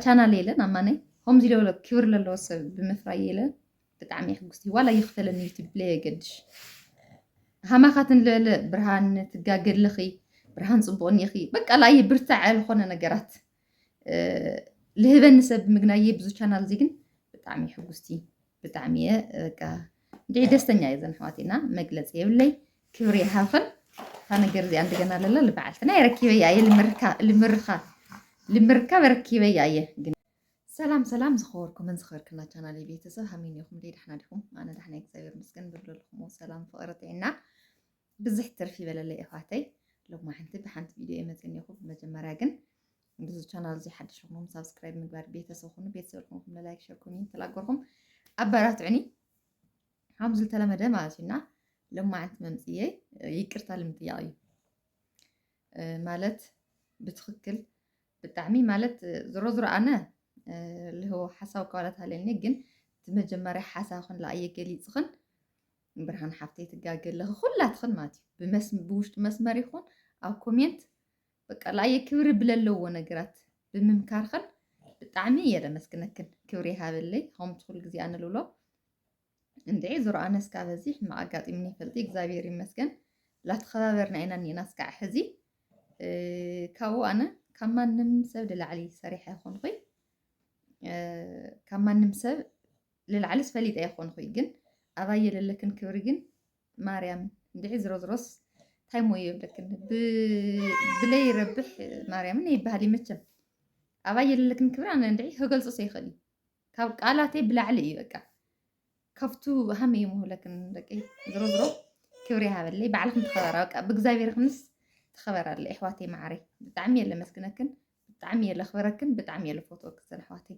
ቻናል የለን ኣማነይ ከምዚ ለሎ ክብር ለለዎ ሰብ ብምፍራይ የለ ብጣዕሚ ሕጉስቲ ዋላ ይኽፈለኒ ዩቱብ ለየገድሽ ሃማኻትን ለለ ብርሃን ትጋገድልኺ ብርሃን ፅቡቅ እኒኺ በቃ ላየ ብርታዕ ዝኾነ ነገራት ልህበኒ ሰብ ምግናየ ብዙ ቻናል እዚ ግን ብጣዕሚ ሕጉስቲ ብጣዕሚ እየ በቃ እንዲዒ ደስተኛ እየ ዘን ኣሕዋቲና መግለፂ የብለይ ክብሪ ይሃብኽን እታ ነገር እዚኣ እንደገና ኣለላ ልበዓልትና የረኪበያ እየ ልምርካ ልምርካ ልምርካ በረኪበያ እየ ግን ሰላም ሰላም ዝኸበርኩምን ዝኸበርክና ቻናል ቤተሰብ ሃሚን ኢኹም ደይ ዳሕና ዲኹም ኣነ ዳሕና እግዚኣብሔር ምስገን ብብለልኹሞ ሰላም ፍቕሪ ጥዕና ብዝሕ ትርፊ ይበለለይ እሕዋተይ ሎማ ሓንቲ ብሓንቲ ቪድዮ የመፅን ኢኹ ብመጀመርያ ግን እንግዚ ቻናል እዚ ሓድሽ ኹም ሳብስክራይብ ምግባር ቤተሰብ ኹኑ ቤተሰብ ልኹንኩም ንላይክ ሸር ኮሜንት ተላገርኩም ኣበራትዑኒ ከም ዝተለመደ ማለት እዩና ለማዓንቲ መምፅየ ይቅርታ ልምጥያቕ እዩ ማለት ብትክክል ብጣዕሚ ማለት ዝሮ ዝሮ ኣነ ልህቦ ሓሳብ ከዋላት ሃለኒ ግን እቲ መጀመርያ ሓሳብክን ለኣየ ገሊፅኽን ብርሃን ሓፍተይ ትጋገለኺ ኩላትኽን ማለት እዩ ብውሽጢ መስመር ይኹን ኣብ ኮሜንት በቃ ላየ ክብሪ ብለለዎ ነገራት ብምምካርኸን ብጣዕሚ እየ ለመስግነክን ክብሪ ይሃበለይ ከምኡ ትኩል ግዜ ኣነ ልብሎ እንድዒ ዙሮ ኣነስ ካብ እዚ ሕማቅ ኣጋጢምኒ ይፈልጥ እግዚኣብሔር ይመስገን ላተኸባበርና ኢና እኒኤና እስካዕ ሕዚ ካብኡ ኣነ ካብ ማንም ሰብ ልላዕሊ ሰሪሐ ይኾንኹይ ካብ ማንም ሰብ ልላዕሊስ ፈሊጠ ይኾንኹይ ግን ኣባየ ለለክን ክብሪ ግን ማርያም እንድዒ ዝሮዝሮስ ታይ ሞዮ የብለክን ብለይ ረብሕ ማርያምን ይበሃል ይመቸም ኣባይ የለለክን ክብሪ ኣነ እንድዒ ከገልፆ ሰይኽእል እዩ ካብ ቃላተይ ብላዕሊ እዩ በቃ ካብቱ ሃመ እዩ መሆለክን ደቂ ዝሮ ዝሮ ክብሪ ይሃበለይ ባዕልክን ተኸበራ በቃ ብእግዚኣብሔር ክንስ ተኸበራለ ኣሕዋተይ ማዓረይ ብጣዕሚ እየ ለመስግነክን ብጣዕሚ እየ ለኽበረክን ብጣዕሚ እየ ለፎትወክሰን ኣሕዋተይ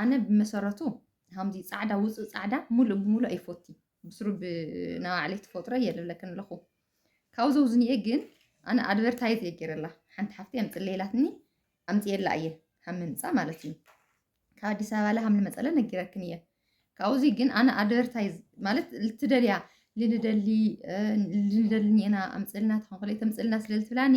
ኣነ ብመሰረቱ ሃምዚ ጻዕዳ ውጹእ ጻዕዳ ሙሉእ ብሙሉእ ኣይፎቲ ብስሩ ብናባዕለይ ትፈጥሮ እየ ልብለክን ኣለኹ ካብኡ ዘውዝኒኤ ግን ኣነ ኣድቨርታይዝ እየ ገይረላ ሓንቲ ሓፍቲ ኣምፅለይላትኒ ኣምፅኤላ እየ ሃም ምምፃእ ማለት እዩ ካብ ኣዲስ ኣበባ ላሃም ልመፀለ ነጊረክን እየ ካብዚ ግን ኣነ ኣድቨርታይዝ ማለት ልትደልያ ልንደሊ ልንደልኒ ኢና ኣምፅልና ተኸንኮለ ተምፅልና ስለልትብላኒ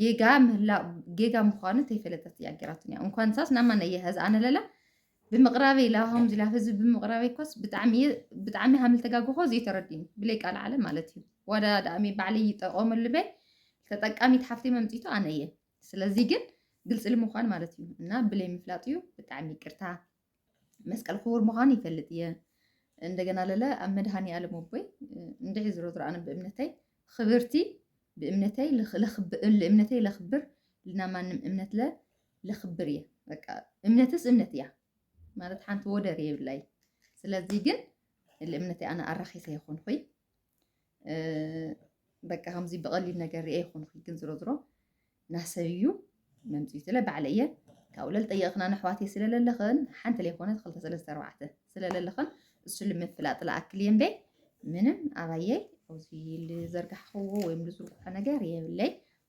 ጌጋ ምህላእ ጌጋ ምዃኑ ተይፈለጠት እያ ጌራቶ እያ እንኳን ሳስ ናማ ነየ ሀዝ ኣነለላ ብምቕራበይ ላብሃም ዝላ ህዝቢ ብምቕራበይ ኮስ ብጣዕሚ ብጣዕሚ ሃምል ተጋግኾ ዘይተረድዩ ብለይ ቃል ዓለ ማለት እዩ ዋዳ ዳእሚ ባዕለይ ይጠቆመሉ በይ ተጠቃሚት ሓፍቴ መምፂቱ ኣነ እየ ስለዚ ግን ግልፂ ልምዃን ማለት እዩ እና ብለይ ምፍላጥ እዩ ብጣዕሚ ይቅርታ መስቀል ክቡር ምዃኑ ይፈልጥ እየ እንደገና ለለ ኣብ መድሃኒ ኣለም ኣቦይ እንድዒ ዝሮ ዝሮ ኣነ ብእምነተይ ክብርቲ ብእምነተይ እምነተይ ለክብር ልና ማንም እምነት ለ ለክብር እየ በቃ እምነትስ እምነት እያ ማለት ሓንቲ ወደር የብላይ ስለዚ ግን ልእምነተይ ኣነ ኣራኺሰ ይኹን ኹይ በቃ ከምዚ ብቐሊል ነገር ርኤ ይኹንኺ ግን ዝሮ ዝሮ ናሰብ እዩ መምፅኡ ስለ ባዕለ እየ ካብኡ ለል ጠየቕኽና ነሕዋት እየ ስለለለኽን ሓንቲ ለይኮነት ክልተ ሰለስተ ኣርባዕተ ስለለለኽን እሱ ልምፍላጥ ለኣክል እየ እምበይ ምንም ኣባየይ ኣብዚ ልዘርጋሕኽዎ ወይም ልዝርግሖ ነገር የብለይ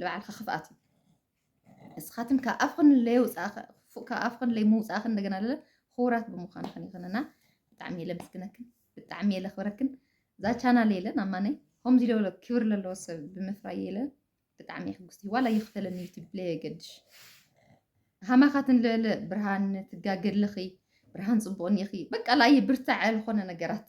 ልባዕልካ ክፍኣት እዩ እስኻትን ካብ ኣፍኽን ለየውፃእኸ ክፉእ ካብ ኣፍኽን ለይምውፃእኽን እንደገና ለለ ክቡራት ብምዃንኽን ይኽን እና ብጣዕሚ እየ ለምስግነክን ብጣዕሚ እየ ለኽብረክን እዛ ቻናል የለ ናብ ማነይ ከምዚ ለበለ ክብር ለለዎ ሰብ ብምፍራይ የለ ብጣዕሚ እየ ሕጉስቲ ዋላ ይኽፈለኒ ዩቱብ ለየገድሽ ሃማኻትን ለለ ብርሃን ትጋገድልኺ ብርሃን ፅቡቕን ኢኺ በቃ ላየ ብርታዐ ዝኾነ ነገራት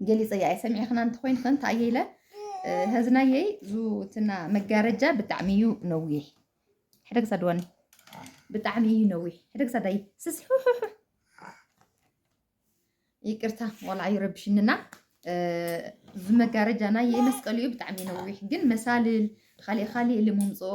ገሊፀያ እየ ሰሚዕኽና እንተኮይን ከ እንታይ እየ ኢለ ህዝናየይ ዙትና መጋረጃ ብጣዕሚ እዩ ነዊሕ ሕደ ክሳድ ዋኒ ብጣዕሚ እዩ ነዊሕ ሕደ ክሳድ ኣይ ስስሑሑሑ ይቅርታ ቆልዓ ይረብሽንና ዝመጋረጃና የመስቀል እዩ ብጣዕሚ ነዊሕ ግን መሳልል ካሊእ ካሊእ ልምምፅኦ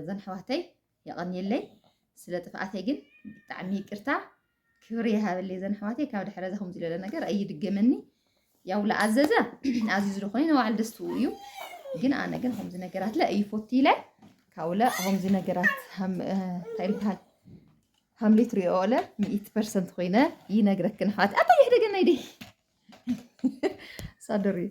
እዘን ኣሕዋተይ የቐንየለይ ስለ ጥፍኣተይ ግን ብጣዕሚ ይቅርታ ክብሪ ይሃበለይ ዘን ኣሕዋተይ ካብ ድሕረ ዘኹም ዝለለ ነገር ኣይድገመኒ ያው ለኣዘዘ ኣዚዙ ዝኾነ ንባዕሉ ደስትኡ እዩ ግን ኣነ ግን ከምዚ ነገራት ለ እዩ ፎቲ ኢለ ካብኡለ ከምዚ ነገራት እንታይ ይበሃል ሃምሊ ትሪኦ ለ ሚእቲ ፐርሰንት ኮይነ ይነግረክን ኣሕዋት ኣታ የሕደገና ይደ ሳደር እዩ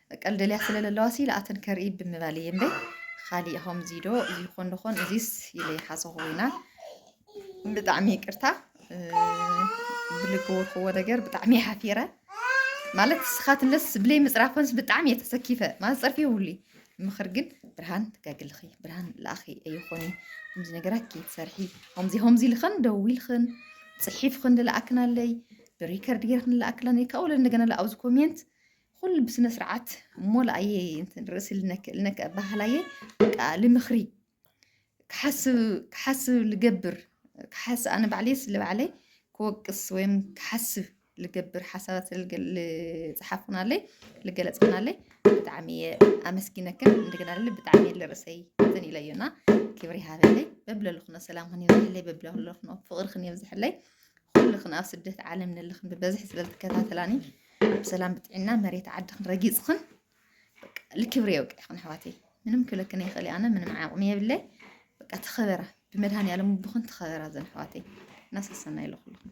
ቀል ደልያ ስለ ለለዋ ሲ ለኣተን ከርኢ ብምባል እየ እምበይ ኻሊእ ኸምዚ ዶ ይኾን ዶኾን እዚስ ኢለ ይሓሰኹ ኢና ብጣዕሚ ይቅርታ ብልገወርክዎ ነገር ብጣዕሚ ሓፊረ ማለት ንስኻትለስ ብለይ ምፅራፈንስ ብጣዕሚ እየ ተሰኪፈ ማለት ፀርፊ የብሉ ምኽር ግን ብርሃን ትጋግልኺ ብርሃን ለኣኺ ኣይኾኒ ከምዚ ነገራት ከይትሰርሒ ከምዚ ከምዚ ኢልኽን ደዊልኽን ፅሒፍኽን ልለኣክናለይ ብሪከርድ ጌርክን ልለኣክላን ካብኡ እንደገና ኣብዚ ኮሜንት ኹሉ ብስነ ስርዓት ሞላኣየ እንትን ርእሲ ልነክ ልነክ ኣባህላየ በቃ ልምኽሪ ክሓስብ ክሓስብ ልገብር ክሓስ ኣነ ባዕለየ ስለ ባዕለይ ክወቅስ ወይም ክሓስብ ልገብር ሓሳባት ዝሓፉናለይ ልገለፅናለይ ብጣዕሚ እየ ኣመስጊነክን እንደገና ልል ብጣዕሚ እየ ልርእሰይ እንትን ኢለዮና ክብሪ ሃበለይ በብለሉ ክነ ሰላም ክን የብዝሐለይ በብለሉ ክነ ፍቕሪ ክን የብዝሐለይ ኩልኽን ኣብ ስደት ዓለም ንልኽን ብበዝሒ ስለ ዝከታተላኒ ኣነ ብሰላም ብጥዕና መሬት ዓድኽን ረጊፅኽን በቃ ልክብሪ የውቅዕኽን ኣሕዋተይ ምንም ክብለክን ይኽእል ኣነ ምንም ዓቕሚ የብለይ በቃ ተኸበራ ብመድሃኒ ያለም ብኹን ተኸበራ ዘን ኣሕዋተይ እናሰሰና ኢለ ኩልኹም